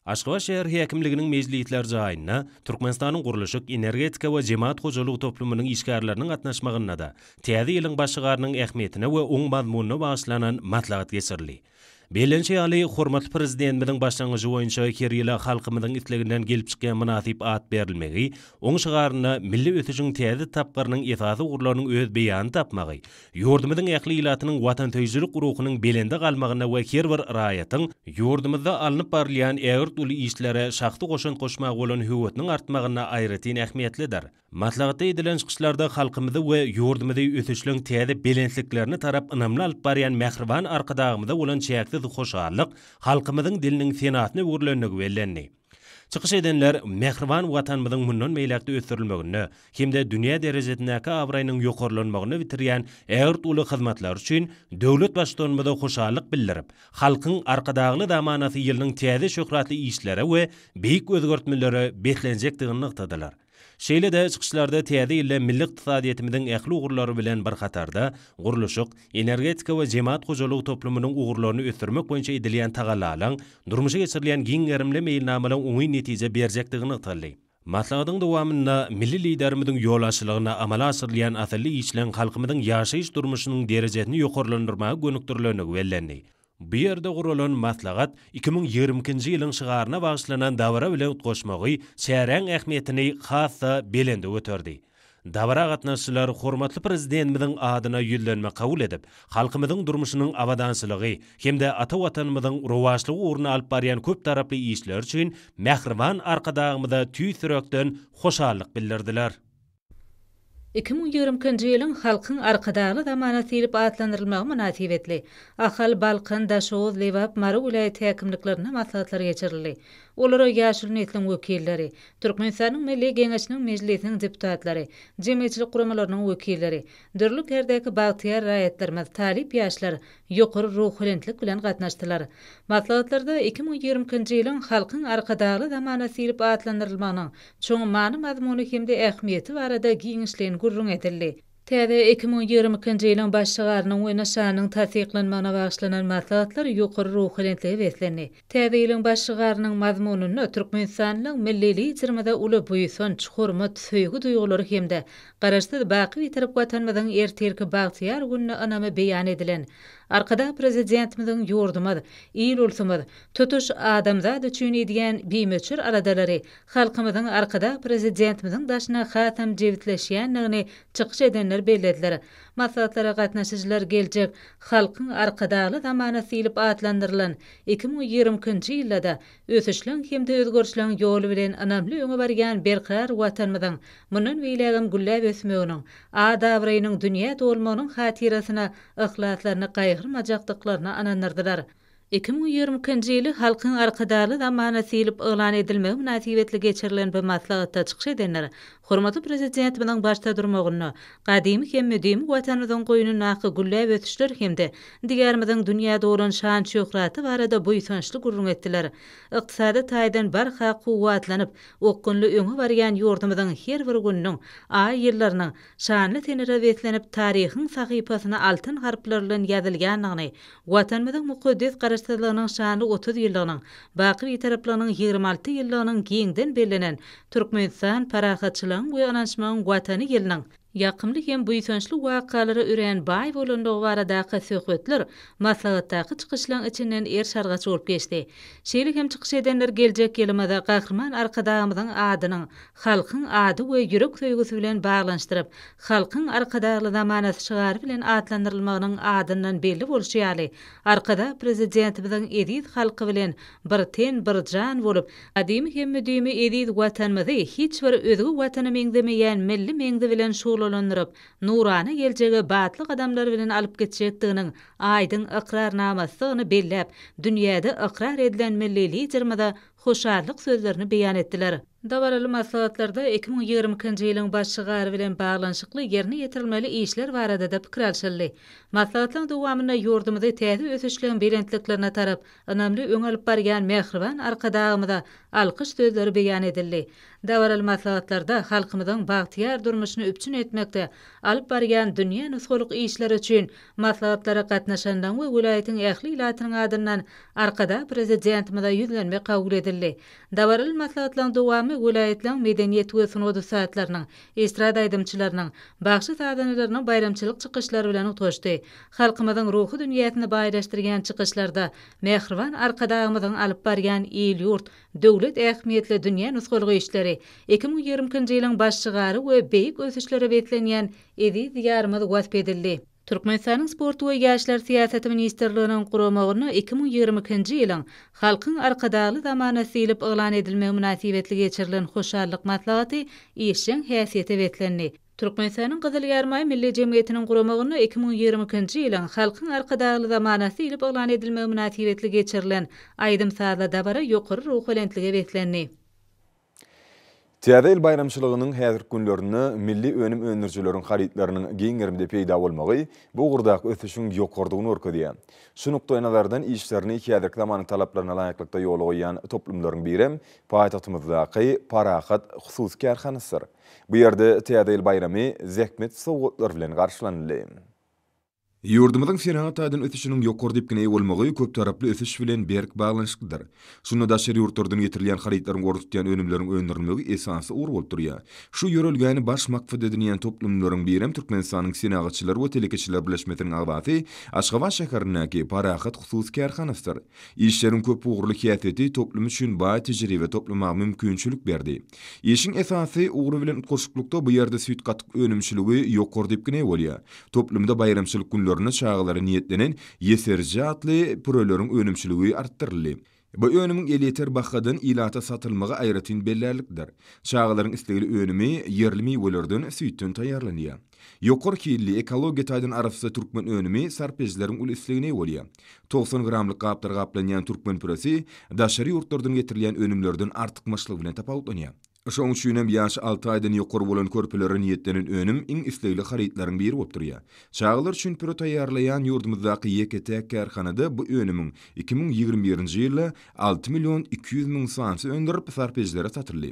Aşgabat şäher häkimliginiň mejlisler jaýynda Türkmenistanyň gurluşyk, energetika we jemagat hojalygy toplumynyň işgärleriniň gatnaşmagynda-da, Täze ýylyň başygarynyň ähmiýetine we oň mazmunyna bagyşlanan maslahat geçirildi. Bellenişi ýaly, hormatly Prezidentimiziň başlangyjy boýunça her ýyla halkymyzyň isleginden gelip çykýan mynasyp at berilmegi, oň şygarynda milli ösüşiň täze tapgyrynyň esasy ugurlarynyň öz beýanyny tapmagy, ýurdumyzyň ähli ilatynyň watansöýüjilik ruhunyň belende galmagyna we her bir raýatyň ýurdumyzda alnyp barylýan ägirt uly işlere şahsy goşant goşmaga bolan höwesiniň artmagyna aýratyn ähmiýetlidir. Maslahatda edilen çykyşlarda halkymyzy we ýurdumyzy ösüşleň täze belentliklerine tarap ynamly alyp barýan mähriban Arkadagymyza bolan çäksiz hoşallyk, halkymyzyň diliniň senasyna öwrülendigi bellendi. Çykyş edenler mähriban Watanymyzyň mundan beýläk-de ösdürilmeginde hem-de dünýä derejesindäki abraýynyň ýokarlanmagynda bitirýän ägirt uly hyzmatlary üçin döwlet Baştutanymyza hoşallyk bildirip, Halkyň Arkadagly zamanasy ýylynyň täze şöhratly işlere we beýik özgertmelere beslenjekdigini nygtadylar. Şeýle-de çykyşlarda Täze ýylda milli ykdysadyýetimiziň ähli ugurlary bilen bir hatarda, gurluşyk, energetika we jemagat hojalygy toplumynyň ugurlaryny ösdürmek boýunça edilýän tagallalaryň, durmuşa geçirilýän giň gerimli meýilnamalaryň oňyn netije berjekdigi nygtaldy. Maslahatyň dowamynda milli Liderimiziň ýolbaşçylygynda amala aşyrylýan asylly işleň halkymyzyň ýaşaýyş-durmuşynyň derejesini ýokarlandyrmaga gönükdirilenligi bellendi. Bu ýerde guralan maslahat iki müň ýigrimi ikinji ýylyň şygaryna bagyşlanan dabara bilen utgaşmagy çäräň ähmiýetini has-da belende göterdi. Dabara gatnaşyjylar hormatly Prezidentimiziň adyna ýüzlenme kabul edip, halkymyzyň durmuşynyň abadançylygy hem-de ata Watanymyzyň rowaçlygy ugrunda alyp barýan köptaraply işleri üçin mähriban Arkadagymyza tüýs ýürekden hoşallyk bildirdiler. Iki müň ýigriminkinji ýylyň Halkyň Arkadagly zamanasy diýlip atlandyrylmagy mynasybetli, Ahal, Balkan, Daşoguz, Lebap, Mary welaýat häkimliklerinde maslahatlar geçirildi. Olara ýaşuly nesliň wekilleri, Türkmenistanyň Milli Geňeşiniň Mejlisiniň deputatlary, jemgyýetçilik guramalarynyň wekilleri, dürli kärdäki bagtyýar raýatlarymyz, talyp ýaşlar ýokary ruhubelentlik bilen gatnaşdylar. Maslahatlarda iki müň ýigriminkinji ýylyň Halkyň Arkadagly zamanasy diýlip atlandyrylmagynyň Çuň many-mazmuny hem-de ähmiýeti barada giňişleýin gürrüň edildi. Täze iki müň ýigrimi ikinji ýylyň Baş şygarynyň we nyşanynyň tassyklanmagyna bagyşlanan maslahatlar ýokary ruhubelentlige beslendi. Täze ýylyň Baş şygarynyň mazmunynda türkmenistanlyň Milli Liderimize uly buýsanç, hormat, söýgi duýgulary hem-de Garaşsyz, baky Bitarap Watanymyzyň ertirki bagtyýar gününe ynamy beýan edilen Arkadag Prezidentimiziň ýurdumyz, il-ulsumyz, tutuş adamzat üçin edýän bimöçber aladalary Halkymyzyň Arkadag Prezidentimiziň daşyna hasam jebisleşýändigini çykyş edenler bellediler. Maslahatlara gatnaşyjylar geljek Halkyň Arkadagly zamanasy diýlip atlandyrylan iki müň ýigrimi ikinji ýylda-da ösüşleň hem-de özgerişleň ýoly bilen ynamly öňe barýan berkarar Watanymyzyň mundan beýlägem gülläp ösmeginiň, at-abraýynyň dünýä dolmagynyň hatyrasyna yhlaslaryny gaýgyrmajakdyklaryna ynandyrdylar. Iki müň ýigrimi ikinji ýyly Halkyň Arkadagly zamanasy diýlip yglan edilmegi mynasybetli geçirilen bu maslahatda çykyş edenler hormatly Prezidentimiziň başda durmagynda gadymy hem müdimi Watanymyzyň goýnundaky gülläp ösüşler hem-de Diýarymyzyň dünýä dolan şan-şöhraty barada buýsançly gürrüň etdiler. Ykdysady taýdan barha kuwwatlanyp, okgunly öňe barýan ýurdumyzyň her bir gününiň, aý-ýyllarynyň, şanly senelere beslenip, taryhyň sahypasyna altyn harplar bilen ýazylýandygyny, Watanymyzyň mukaddes Garaşsyzlygynyň şanly otuz ýyllygynyň, baky Bitaraplygynyň ýigrimi alty ýyllygynyň giňden bellenen Türkmenistan parahatçylygyň we ynanyşmagyň Watany ýylynyň ýakymly hem buýsançly wakalara örän baý bolandygy baradaky söhbetler maslahatdaky çykyşlaryň içinden erşargaç bolup geçdi. Şeýle hem çykyş edenler geljek ýylymyza Gahryman Arkadagymyzyň adynyň halkyň ady we ýürek söýgüsi bilen baglanyşdyryp, Halkyň Arkadagly zamanasy şygary bilen atlandyrylmagynyň adyndan belli bolşy ýaly, Arkadag Prezidentimiziň eziz halky bilen bir ten, bir jan bolup, gadymy hem müdimi eziz Watanymyzy hiç bir özge Watana meňzemeýän milli meňzi bilen şuglalandyryp, nurana geljege batly gadamlar bilen alyp gitjekdiginiň aýdyň ykrarnamasydygyny belläp, dünýäde ykrar edilen milli Liderimize hoşallyk sözlerini beýan etdiler. Dabaraly maslahatlarda iki müň ýigrimi ikinji ýylyň baş şygary bilen baglanyşykly ýerine ýetirilmeli işler barada-da pikir alşyldy. Maslahatlaryň dowamynda ýurdumyzy täze ösüşligiň belentliklerine tarap ynamly öňe alyp barýan mähriban Arkadagymyza alkyş sözleri beýan edildi. Dabaraly maslahatlarda halkymyzyň bagtyýar durmuşyny üpjün etmekde alyp barýan dünýä nusgalyk işleri üçin Maslahatlara gatnaşanlaryň we welaýatyň ähli ilatynyň adyndan Arkadag Prezidentimize ýüzlenme kabul edildi. Dabaraly maslahatlaryň dowamy welaýatlaryň medeniýet we sungat ussatlarynyň, estrada aýdymçylarynyň, bagşy-sazandalarynyň baýramçylyk çykyşlary bilen utgaşdy. Halkymyzyň ruhy dünýäsini baýlaşdyrýan çykyşlarda mähriban Arkadagymyzyň alyp barýan il-ýurt, döwlet ähmiýetli dünýä nusgalyk işleri, iki müň ýigrimi ikinji ýylyň baş şygary we beýik ösüşlere beslenýän eziz Diýarymyz wasp edildi. Türkmenistanyň Sport we ýaşlar syýasaty ministrliginiň guramagyna iki müň ýigrimi ikinji ýylyň Halkyň Arkadagly zamanasy diýlip yglan edilmegi mynasybetli geçirilen hoşallyk maslahaty işjeň häsiýete beslendi. Türkmenistanyň Gyzyl Ýarmaý Milli jemgyýetiniň guramagyna iki müň ýigrimi ikinji ýylyň Halkyň Arkadagly zamanasy diýlip yglan edilmegi mynasybetli geçirilen aýdym-sazly dabara ýokary ruhubelentlige beslendi. Täze ýyl baýramçylygynyň häzirki günlerinde milli önüm öndürijileriň harytlarynyň giň gerimde peýda bolmagy bu ugurdaky ösüşiň ýokarydygyny görkezýär. Şu nukdaýnazardan işlerini häzirki zamanyň talaplaryna laýyklykda ýola goýýan toplumlaryň birem paýtagtymyzdaky Parahat hususy kärhanasydyr. Bu ýerde Täze ýyl baýramy zähmet sowgatlary bilen garşylanyldy. Ýurdumyzyň senagat taýdan ösüşiniň ýokary depgine eýe bolmagy köptaraply ösüş bilen berk baglanyşyklydyr. Şunda daşary ýurtlardan getirilýän harytlaryň orny tutýan önümleriň öndürilmegi esasy ugur bolup durýar. Şu ýörelgäni baş maksat edinýän toplumlaryň birem Türkmenistanyň Senagatçylar we telekeçiler birleşmesiniň agzasy Aşgabat şäherindäki Parahat hususy kärhanasydyr. Işleriň köp ugurly häsiýeti toplum üçin baý tejribe toplamaga mümkinçilik berdi. Işiň esasy ugry bilen utgaşyklykda bu ýerde süýt-gatyk önümçiligi ýokary depgine eýe bolýar. Toplumda baýramçylyk günlerinde çagalara niýetlenen Ýeserje atly püreleriň önümçiligi artdyryldy. Bu önümiň elýeter bahadan ilata satylmagy aýratyn bellärlikdir. Çagalaryň islegli önümi ýerli miwelerden, süýtden taýýarlanýar. Ýokary hilli, ekologiýa taýdan arassa türkmen önümi sarp edijileriň uly islegine eýe bolýar. Togsan gramlyk gaplar gaplanýan türkmen püresi daşary ýurtlardan getirilýän önümlerden artykmaçlygy bilen tapawutlanýar. Şoň üçin hem ýaşy alty aýdan ýokary bolan körpelere niýetlenen önüm iň islegli harytlaryň biri bolup durýar. Çagalar üçin püre taýýarlaýan ýurdumyzdaky ýeke-täk kärhanada bu önümiň iki müň ýigrimi birinji ýylda alty million iki ýüz müň sanysy öndürip, sarpedijilere satyldy.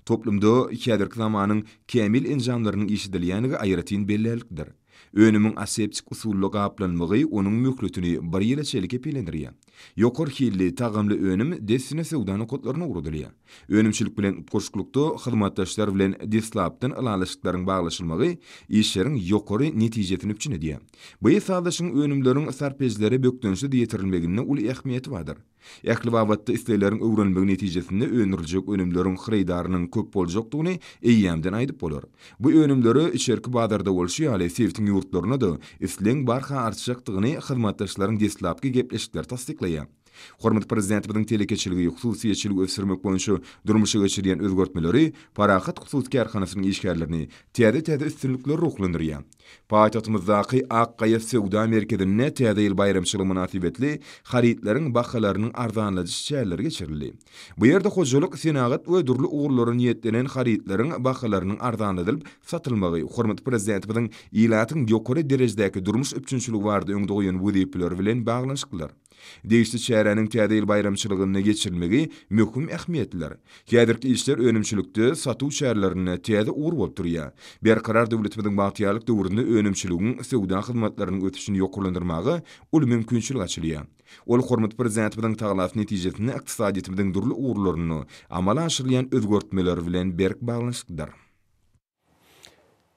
Toplumda häzirki zamanyň kämil enjamlarynyň işledilýändigi aýratyn bellärlikdir. Önümiň aseptik usulda gaplanmagy onuň möhletini bir ýyla çenli kepillendirýär. Ýokary hilli, tagamly önüm dessine söwda nokatlaryna ugradylýar. Önümçilik bilen utgaşyklykda hyzmatdaşlar bilen deslapdan ylalaşyklaryň baglaşylmagy işleriň ýokary netijesini üpjün edýär. Bu sazlaşygyň önümleriň sarp edijilere bökdençsiz ýetirilmeginde uly ähmiýeti bardyr. Ähli babatda islegleriň öwrenilmegi netijesinde öndüriljek önümleriň hyrydarynyň köp boljakdygyny eýýämden aýdyp bolar. Bu önümlere içerki bazarda bolşy ýaly sebitiň ýurtlarynda-da islegiň barha artjakdygyny hyzmatdaşlaryň deslapky gepleşikleri tassyklaýar. Hormatly Prezidentimiziň telekeçiligi, hususyýetçiligi ösdürmek boýunça durmuşa geçirýän özgertmeleri Parahat hususy kärhanasynyň işgärlerini täze-täze üstünliklere ruhlandyrýar. Paýtagtymyzdaky Ak gaýa söwda merkezinde Täze ýyl baýramçylygy mynasybetli harytlaryň bahalarynyň arzanladyş çäreleri geçirildi. Bu ýerde hojalyk, senagat we dürli ugurlara niýetlenen harytlaryň bahalarynyň arzanladylyp satylmagy hormatly Prezidentimiziň ilatyň ýokary derejedäki durmuş üpjünçiligi barada öňde goýan wezipeleri bilen baglanyşyklydyr. Degişli çäräniň Täze ýyl baýramçylygynda geçirilmegi möhüm ähmiýetlidir. Häzirki işler önümçilikde, satuw çärelerinde täze ugur bolup durýar. Berkarar döwletimiziň bagtyýarlyk döwründe önümçiligiň, söwda hyzmatlarynyň ösüşini ýokarlandyrmaga uly mümkinçilik açylýar. Ol Hormatly Prezidentimiziň tagallasy netijesinde ykdysadyýetimiziň dürli ugurlarynda amala aşyrylýan özgertmeler bilen berk baglanyşyklydyr.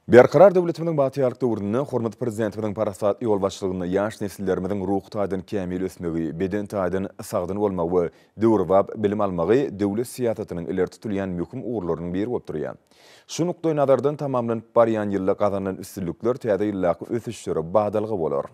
Berkarar döwletimiziň bagtyýarlyk döwründe hormatly Prezidentimiziň parasatly ýolbaşçylygynda ýaş nesillerimiziň ruhy taýdan kämil ösmegi, beden taýdan sagdyn bolmagy we döwrebap bilim almagy döwlet syýasatynyň ileri tutulýan möhüm ugurlarynyň biri bolup durýar. Şu nukdaýnazardan tamamlanyp barýan ýylda gazanylan üstünlikler täze ýyldaky ösüşlere badalga bolar.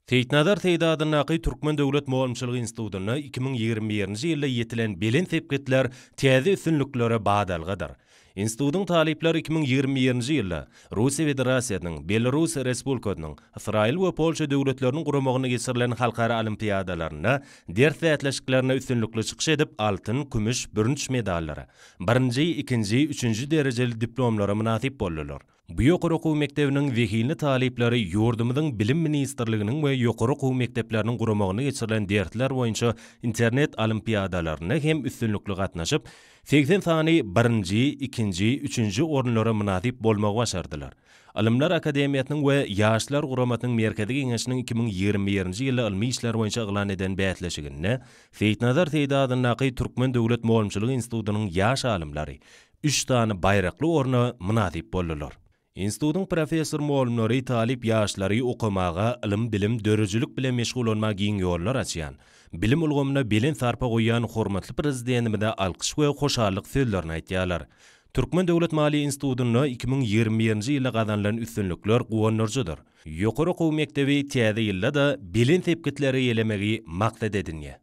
Seýitnazar Seýdi adyndaky Türkmen döwlet mugallymçylyk institutynda iki müň ýigrimi birinji ýylda ýetilen belent sepgitler täze üstünliklere badalgadyr. Institutyň talyplary iki müň ýigrimi birinji ýylda Russiýa Federasiýasynyň, Belarus Respublikasynyň, Ysraýyl we Polşa döwletleriniň guramagynda geçirilen halkara olimpiadalarynda ders bäsleşiklerinde üstünlikli çykyş edip, altyn, kümüş, bürünç medallara, birinji, ikinji, üçünji derejeli diplomlara mynasyp boldular. Bu ýokary okuw mekdebiniň zehinli talyplary ýurdumyzyň Bilim ministrliginiň we ýokary okuw mekdepleriniň guramagynda geçirilen dersler boýunça internet olimpiadalaryna hem üstünlikli gatnaşyp, segsen sany birinji, ikinji, üçünji orunlara mynasyp bolmagy başardylar. Ylymlar akademiýasynyň we Ýaşlar guramasynyň Merkezi Geňeşiniň iki müň ýigrimi birinji ýyly ylmy işler boýunça yglan eden bäsleşiginde Seýitnazar Seýdi adyndaky Türkmen döwlet mugallymçylyk institutynyň ýaş alymlary üç sany baýrakly orna mynasyp boldular. Institutyň professor-mugallymlary talyp ýaşlary okamaga, ylym-bilim, döredijilik bilen meşgullanmaga giň ýollar açýan, bilim ulgamyna belent sarpa goýýan hormatly Prezidentimize alkyş we hoşallyk sözlerini aýtýarlar. Türkmen döwlet maliýe institutynda iki müň ýigrimi birinji ýylda gazanylan üstünlikler guwandyryjydyr. Ýokary okuw mekdebi täze ýylda-da belent sepgitleri eýelemegi maksat edinýär.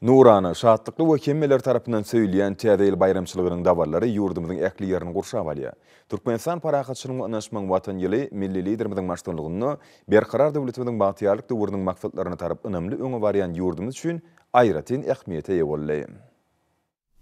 Nurana, şatlykly we hemmeler tarapyndan söýülýän Täze ýyl baýramçylygynyň daballary ýurdumyzyň ähli ýerini gurşap alýar. Türkmenistan parahatçylygyň we ynanyşmagyň Watany ýyly milli Liderimiziň baştutanlygynda Berkarar döwletimiziň bagtyýarlyk döwrüniň maksatlaryna tarap ynamly öňe barýan ýurdumyz üçin aýratyn ähmiýete eýe boldy.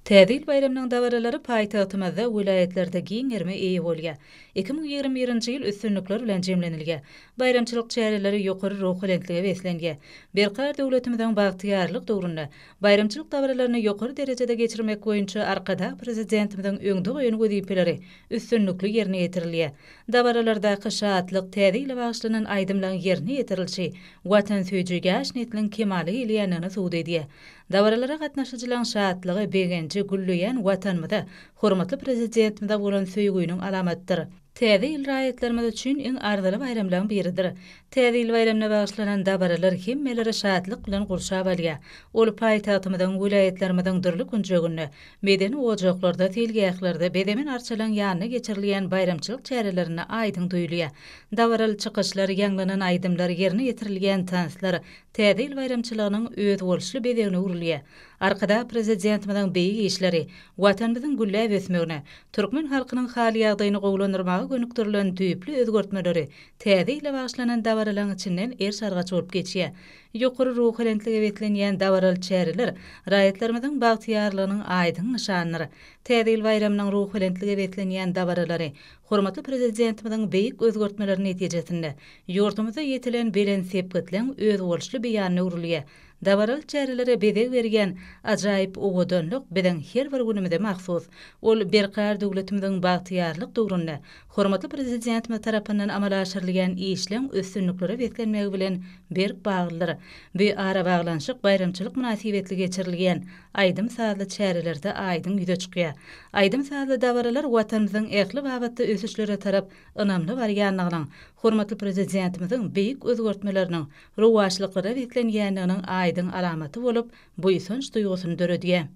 Täze ýyl baýramynyň dabaralary paýtagtymyzda, welaýatlarda giň gerime eýe bolýar. Iki müň ýigrimi birinji ýyl üstünlikler bilen jemlenilýär. Baýramçylyk çäreleri ýokary ruhubelentlige beslenýär. Berkarar döwletimiziň bagtyýarlyk döwründe baýramçylyk dabaralaryny ýokary derejede geçirmek boýunça Arkadag Prezidentimiziň öňde goýan wezipeleri üstünlikli ýerine ýetirilýär. Dabaralardaky şatlyk, Täze ýyla bagyşlanan aýdymlaryň ýerine ýetirilişi watansöýüji ýaş nesliň kemala gelýändigini subut edýär. Dabaralara gatnaşyjylaryň şatlygy, begenji gülleýän Watanymyza, hormatly Prezidentimize bolan söýgüniň alamatydyr. Täze ýyl raýatlarymyz üçin iň arzyly baýramlaryň biridir. Täze ýyl baýramyna bagyşlanan dabaralar hemmeleri şatlyk bilen gurşap alýar. Ol paýtagtymyzyň, welaýatlarymyzyň dürli künjeginde, medeni ojaklarda, seýilgählerde, bezemen arçalaryň ýanynda geçirilýän baýramçylyk çärelerinde aýdyň duýulýar. Dabaraly çykyşlar, ýaňlanan aýdymlar, ýerine ýetirilýän tanslar, Täze ýyl baýramçylygynyň özboluşly bezegine öwrülýär. Arkadag Prezidentimiziň beýik işleri, Watanymyzyň gülläp ösmegine, türkmen halkynyň hal-ýagdaýyny gowulandyrmaga gönükdirilen düýpli özgertmeleri Täze ýyla bagyşlanan dabaralaryň içinden eriş-argaç bolup geçýär. Ýokary ruhubelentlige beslenýän dabaraly çäreler raýatlarymyzyň bagtyýarlygynyň aýdyň nyşanydyr. Täze ýyl baýramynyň ruhubelentlige beslenýän dabaralary hormatly Prezidentimiziň beýik özgertmeleri netijesinde Ýurdumyzda ýetilen belent sepgitleň özboluşly beýanyna öwrülýär. Dabaraly çärelere bezeg berýän ajaýyp owadanlyk biziň her bir günümize mahsus. Ol berkarar döwletimiziň bagtyýarlyk döwründe hormatly Prezidentimiz tarapyndan amala aşyrylýan işleň üstünliklere beslenmegi bilen berk baglydyr. Bu arabaglanyşyk baýramçylyk mynasybetli geçirilýän aýdym-sazly çärelerde aýdyň ýüze çykýar. Aýdym-sazly dabaralar Watanymyzyň ähli babatda ösüşlere tarap ynamly barýandygynyň, hormatly Prezidentimiziň beýik özgertmeleriniň rowaçlyklara beslenýändiginiň aýdyň alamaty bolup, buýsanç duýgusyny döredýär.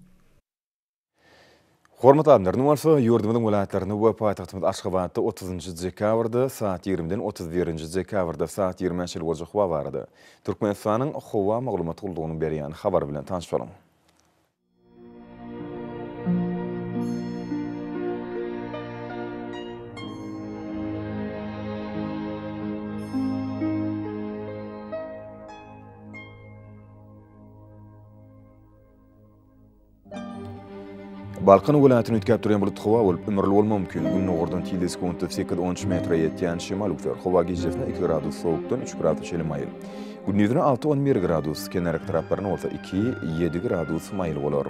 Hormat adlaryny bolsa ýurdumyzyň welaýatlarynda we paýtagtymyz Aşgabatda otuzynjy dekabrda saat ýigrimiden otuz birinji dekabrda saat ýigrimä çenli boljak wagt arada Türkmenistanyň Howa maglumat gullugynyň berýän habary bilen tanyş boluň. Balkan welaýatyny üýtgäp durýan bulut howa bolup, ümürli bolmagy mümkin. Gündogardan tizligi sekuntda sekiz-on üç metre ýetýän şemal öwser. Howa gijesine iki gradus sowukdan üç grada çenli maýyl. Gündiziň alty on bir gradus, kenar etraplaryna bolsa iki ýedi gradus maýyl bolar.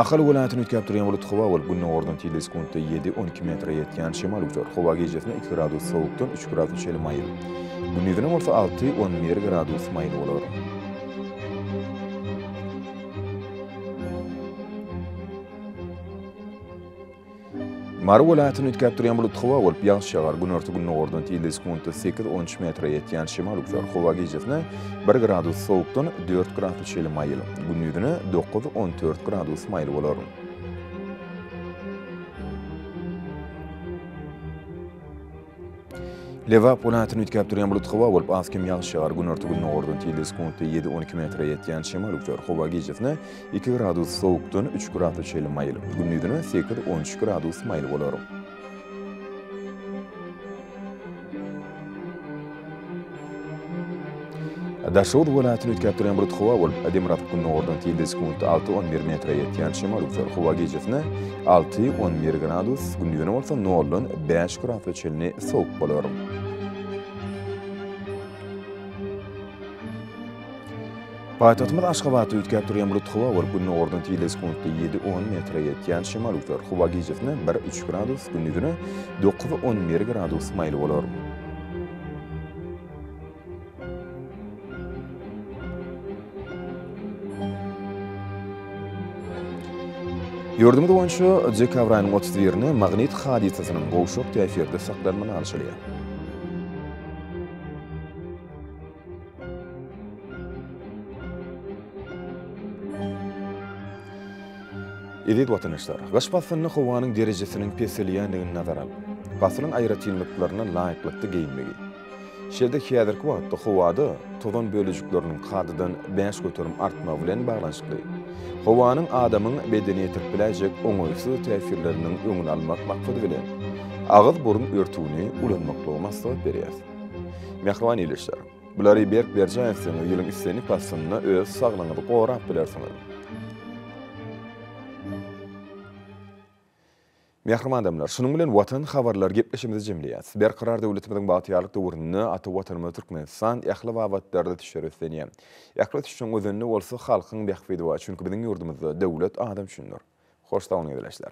Ahal welaýatyny üýtgäp durýan bulut howa bolup, gündogardan tilde sekuntda ýedi on iki metre ýetýän şemal güýçer. Howa gijesine iki gradus sowukdan üç gradus çenli maýyl. Gündizine bolsa alty on bir gradus maýyl bolar. Mary welaýatyny üýtgäp durýan bulut howa bolup, ýagyş ýagar. Günorta-gündogardan tizligi sekuntda sekiz-on metre ýetýän şemal uçar. Howa gijesine bir gradus sowukdan dört gradus çenli maýyl, gündiziňe dokuz-on dört gradus maýyl bolar. Lebap welaýatyny üýtgäp durýan bulut howa bolup, az kem ýagyş ýagar. Günorta-gündogardan tilde sekuntda ýedi-on iki metre ýetýän şemal üzer. Howa gijasine iki gradus sowukdan üç grada çenli maýyl, gündizine sekiz-on üç gradus maýyl bolar. Daşoguz welaýatyny üýtgäp durýan bulut howa bolup, demirgazyk gündogardan tilde sekuntda alty on bir metre ýetýän şemal üzer. Howa gijesine alty on bir gradus, gündizine bolsa noldan bäş gradsa çenli sowuk bolar. Paýtagtymyz Aşgabatda üýtgäp durýan bulut howa bolup, gündogardan tizligi sekuntda ýedi, on metre ýetýän şemal öwser. Howa gijesine bir, üç gradus, gündizine dokuz, on bir gradus maýyl bolar. Ýurdumyz boýunça dekabr aýynyň otuz birine magnit hadysasynyň gowşak täsirde saklanmagy alşylýar. Eziz watandaşlar! Gyş paslynda howanyň derejesiniň peselýändigini nazara alyp, paslyň aýratynlyklaryna laýyklykda geýinmegi, şeýle-de häzirki wagtda howada tozan bölejikleriniň kadadan bäş göterim artmagy bilen baglanyşykly howanyň adamyň bedenine ýetirip biläýjek oňaýsyz täsirleriniň öňüni almak maksady bilen, agyz-burun örtügini ulanmaklygy maslahat berýäris. Mähriban ildeşler! Bulary berk berjaý etseňiz, ýylyň islendik paslynda öz saglygyňyzy gorap bilersiňiz. Mähriban adamlar, şunuň bilen Watan habarlar gepleşigimizi jemleýäs. Berkarar döwletimiziň bagtyýarlyk döwründe ata Watanymyz Türkmenistan ähli babatlarda ösüşleri öslenýär. Ähli ösüşiň özenini bolsa halkyň bähbidi bar, çünki biziň ýurdumyzda döwlet adam üçindir. Hoş sag boluň ildeşler!